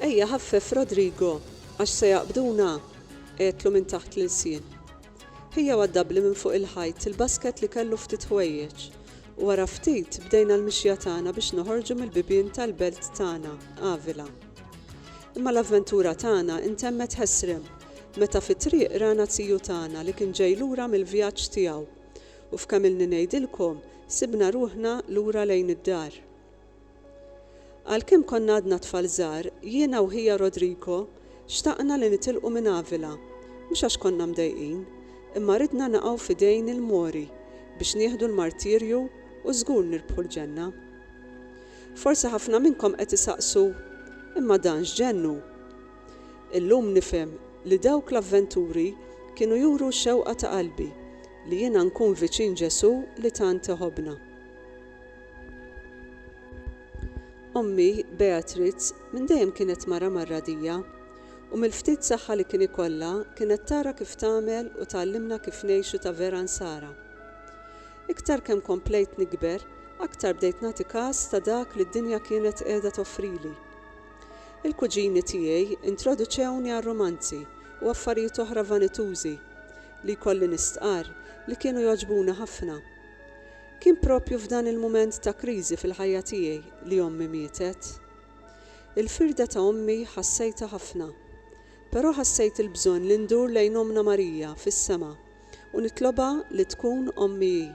Ejja ħaffef Rodrigo għax se jaqbduna! għedtlu minn taħt l-ilsien. Ħija waddabli minn fuq il-ħajt il-basket li kellu ftit ħwejjeġ u wara ftit bdejna l-mixja tagħna biex noħorġu mill-bibien tal-belt tagħna, Avila. Imma l-avventura tagħna intemmet ħesrem. meta fit-triq rana tiju tagħna li kien ġej lura mill-vjaġġ tiegħu, u f'kemm ilni ngħidilkom, sibna ruħna lura lejn id-dar. Għalkemm konna għadna tfal żgħar, jiena u ħija Rodrigo xtaqna li nitilqu minn Avila, mhux għax konna mdejqin, imma ridna naqgħu f'idejn il-Mori biex nieħdu l-martirju u żgur nirbħu l-ġenna. Forsi ħafna minnkom qed isaqsu, Imma dan x'ġenn hu? Illum nifhem li dawk l-avventuri kienu juru x-xewqa ta' qalbi, li jiena nkun viċin Ġesù li tant iħobbna. Ommi, Beatriz, minn dejjem kienet mara mar-radija, u mill-ftit saħħa li kien ikollha kienet tara kif tagħmel u tgħallimna kif ngħixu ta' vera Nsara. Iktar kemm komplejt nikber, aktar bdejt nagħti kas ta' dak li d-dinja kienet qiegħda toffrili. Il-kuġini tiegħi introduċewni għar-rumanzi u affarijiet oħra vanitużi, li jkolli nistqarr li kienu jogħġbuni ħafna. Kien proprju f'dan il-mument ta' kriżi fil-ħajja tiegħi li ommi mietet. Il-firda ta' ommi ħassejtha ħafna, però ħassejt il-bżonn li ndur lejn Ommna Marija fis-sema u nitlobha li tkun ommi hi.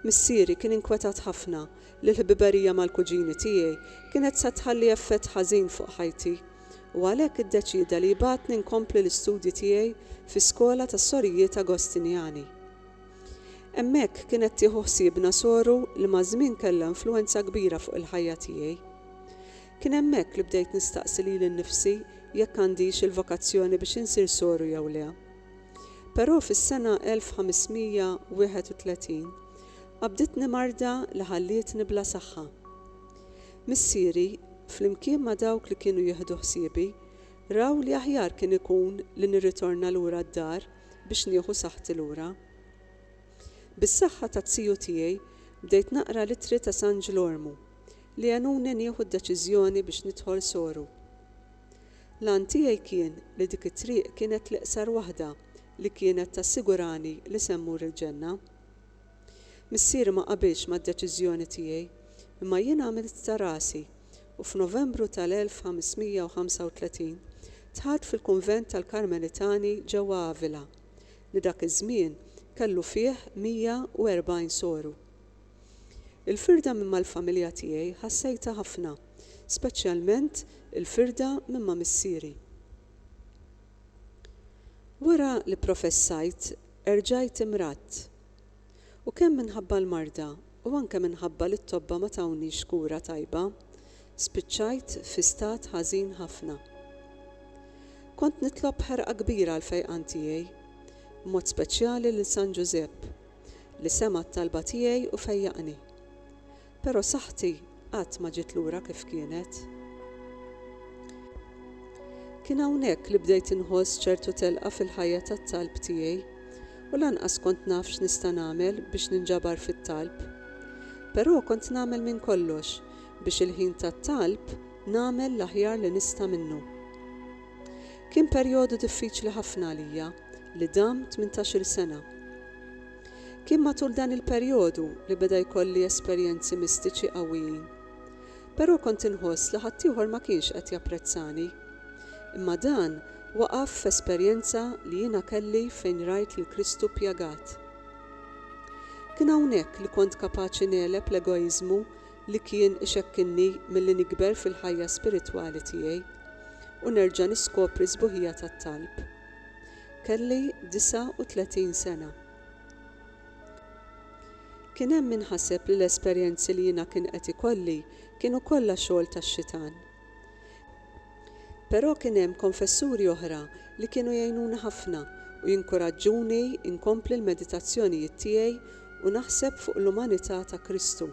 Missieri kien inkwetat ħafna li l-ħbiberija mal-kuġini tiegħi kienet se tħalli effett ħażin fuq ħajti, u għalhekk iddeċieda li jbagħatni nkompli l-istudji tiegħi fi skola tas-Sorijiet Agostinjani. Hemmhekk kienet tieħu ħsiebna soru li maż-żmien kellha influwenza kbira fuq il-ħajja tiegħi. Kien hemmhekk li bdejt nistaqsi lili nnifsi jekk għandix il-vokazzjoni biex insir soru jew le. Però fis-sena 1531 qabditni marda li ħallietni bla saħħa. Missieri, flimkien ma' dawk li kienu jieħdu ħsiebi, raw li aħjar kien ikun li nirritorna lura d-dar biex nieħu saħħti lura. Bis-saħħa ta' ziju tiegħi bdejt naqra l-ittri ta' San Ġlormu li għenuni nieħu d-deċiżjoni biex nidħol soru. L-għan tiegħi kien li dik it-triq kienet l-iqsar waħda li kienet tassigurani li se mmur il-Ġenna. Missieri ma qabilx mad-deċiżjoni tiegħi, imma jien għamilt ta' rasi u f'Novembru tal-1535 dħalt fil-kunvent tal-Karmelitani ġewwa Avila, li dak iż-żmien kellu fih 140 soru. Il-firda minn mal-familja tiegħi ħassejtha ħafna, speċjalment il-firda minn ma' missieri. Wara li pprofessajt erġajt imradt. U kemm minħabba l-marda u anke minħabba li t-tobba ma tawniex kura tajba, spiċċajt fi stat ħażin ħafna. Kont nitlob b'ħerqa kbira għall-fejqan tiegħi, b'mod speċjali lil San Ġużepp, li sema' t-talba tiegħi u fejjaqni. Però saħħti qatt ma ġiet lura kif kienet. Kien hawnhekk li bdejt inħoss ċertu telqa fil-ħajja tat-talb tiegħi u lanqas kont naf x'nista' nagħmel biex ninġabar fit-talb. Però kont nagħmel minn kollox biex il-ħin tat-talb nagħmel l-aħjar li nista' minnu. Kien perjodu diffiċli ħafna għalija. li dam tmintax-il sena. Kien matul dan il-perjodu li beda jkolli esperjenzi mistiċi qawwijin. Però kont inħoss li ħaddieħor ma kienx qed japprezzani. Imma dan waqaf f'esperjenza li jiena kelli fejn rajt lil Kristu pjagat. Kien hawnhekk li kont kapaċi negħleb l-egoiżmu li kien ixekkilni milli nikber fil-ħajja spiritwali tiegħi u nerġa' niskopri s-sbuħija tat-talb. Kelli 39 sena. Kien hemm min ħaseb li l-esperjenzi li jiena kien qed ikolli kienu kollha xogħol tax-xitan. Però kien hemm konfessuri oħra li kienu jgħinuni ħafna u jinkuraġġuni nkompli l-meditazzjonijiet tiegħi u naħseb fuq l-umanità ta' Kristu.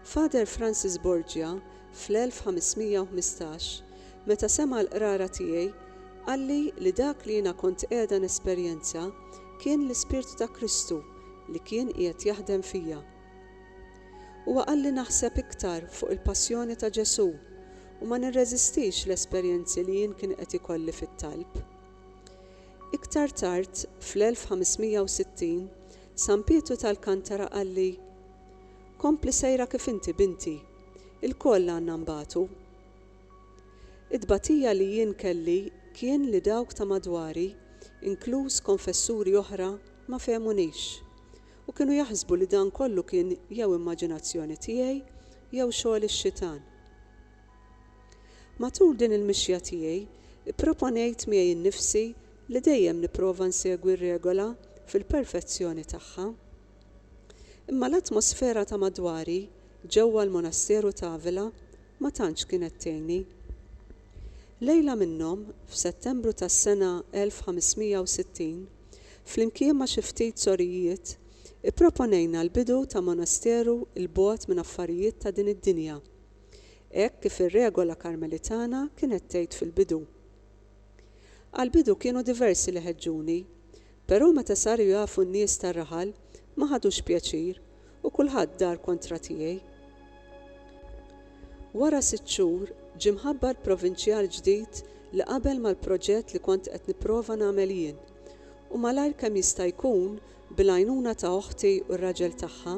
Father Francis Borgia fl-1515, meta sema' l-qrara tiegħi, qalli li dak li jiena kont qiegħda nesperjenza kien l-Ispirtu ta' Kristu li kien qiegħed jaħdem fija. Huwa qalli naħseb iktar fuq il-Passjoni ta' Ġesù u ma nirreżistix l-esperjenzi li jien kien qed ikolli fit-talb. Iktar tard, fl-1560, San Pietru t'Alkantara qalli, Kompli sejra kif inti binti. Ilkoll għandna nbatu. It-tbatija li jien kelli kien li dawk ta' madwari, inkluż konfessuri oħra ma fehmunix. U kienu jaħsbu li dan kollu kien jew immaġinazzjoni tiegħi jew xogħol ix-xitan. Matul din il-mixja tiegħi pproponejt miegħi nnifsi li dejjem nipprova nsegwi r-regola fil-perfezzjoni tagħha. Imma l-atmosfera ta' madwari ġewwa l-Monasteru t'Avila ma tantx kienet tgħinni. Lejla minnhom, f'Settembru tas-sena 1560, flimkien ma' xi ftit sorijiet, ipproponejna l-bidu ta' monasteru 'l bogħod minn affarijiet ta' din id-dinja, hekk kif ir-regola Karmelitana kienet tgħid fil-bidu. Għall-bidu kienu diversi li ħeġġuni, Però meta saru jafu n-nies tar-raħal, ma ħadux pjaċir, u kulħadd dar kontra tiegħi. Wara sitt xhur, ġie mħabbar provinċjal ġdid li qabel mal-proġett li kont qed nipprova nagħmel jien, u malajr kemm jista' jkun, bil-għajnuna ta' oħti u r-raġel tagħha,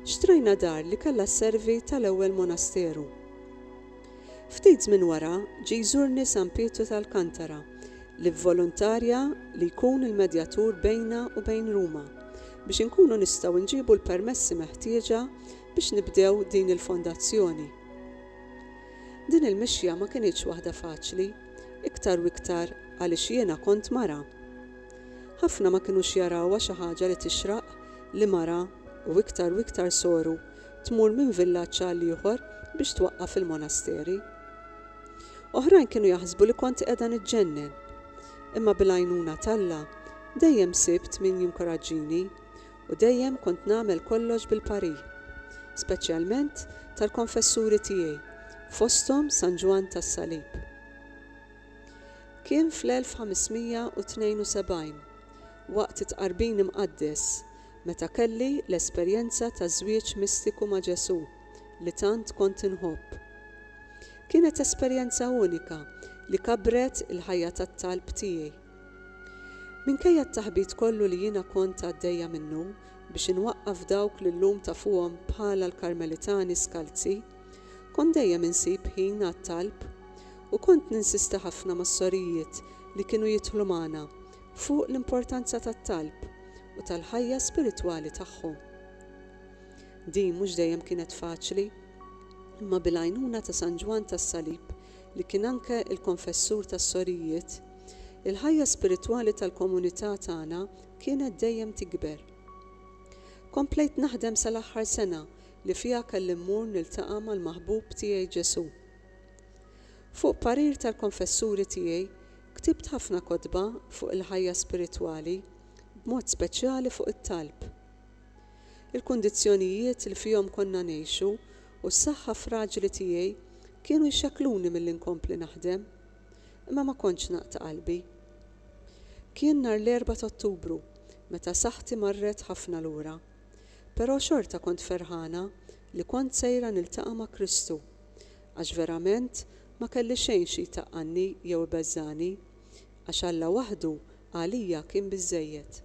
xtrajna dar li kellha sservi tal-ewwel monasteru. Ftit żmien wara, ġie jżurni San Pietru t'Alcantara, li vvoluntarja li jkun il-medjatur bejna u bejn Ruma, biex inkunu nistgħu nġibu l-permessi meħtieġa biex nibdew din il-fondazzjoni. Din il-mixja ma kinitx waħda faċli, iktar u iktar għaliex jiena kont mara. Ħafna ma kinux jarawha xi ħaġa li tixraq li mara, u iktar u iktar soru, tmur minn villaġġ għal ieħor biex twaqqaf fil-monasteri. Oħrajn kienu jaħsbu li kont qiegħda niġġennen. Imma bil-għajnuna t'Alla, dejjem sibt min jinkoraġġini u dejjem kont nagħmel kollox bil-parir. Speċjalment tal-konfessuri tiegħi, fosthom San Ġwann tas-Salib. Kien fl-1572, waqt it-Tqarbin Imqaddes, meta kelli l-esperjenza ta' żwieġ mistiku ma' Ġesù li tant kont inħobb. Kienet esperjenza unika li kabbret il-ħajja tat-talb tiegħi. Minkejja t-taħbit kollu li jiena kont għaddejja minnu biex inwaqqaf dawk li llum tafuhom bħala l-Karmelitani skalzi, kont dejjem insib ħin għat-talb u kont ninsisti ħafna mas-sorijiet li kienu jidħlu magħna fuq l-importanza tat-talb. u tal-ħajja spiritwali tagħhom. Din mhux dejjem kienet faċli, imma bil-għajnuna ta' San Ġwann tas-Salib, li kien anke l-konfessur tas-sorijiet, il-ħajja spiritwali tal-komunità tagħna kienet dejjem tikber. Komplejt naħdem sal-aħħar sena li fiha kelli mmur niltaqa' mal-Maħbub tiegħi Ġesù. Fuq parir tal-konfessuri tiegħi, Ktibt ħafna kotba fuq il-ħajja spiritwali, b'mod speċjali fuq it-talb. Il-kundizzjonijiet li fihom konna ngħixu u s-saħħa fraġli tiegħi kienu jxekkluni milli nkompli naħdem. Imma ma kontx naqta' qalbi. Kien nhar l-Erbgħa t'Ottubru meta saħħti marret ħafna lura. Però xorta kont ferħana li kont sejra niltaqa' ma' Kristu. għax verament ma kelli xejn xi jtaqqanni jew ibeżżagħni, għax Alla waħdu għalija kien biżżejjed.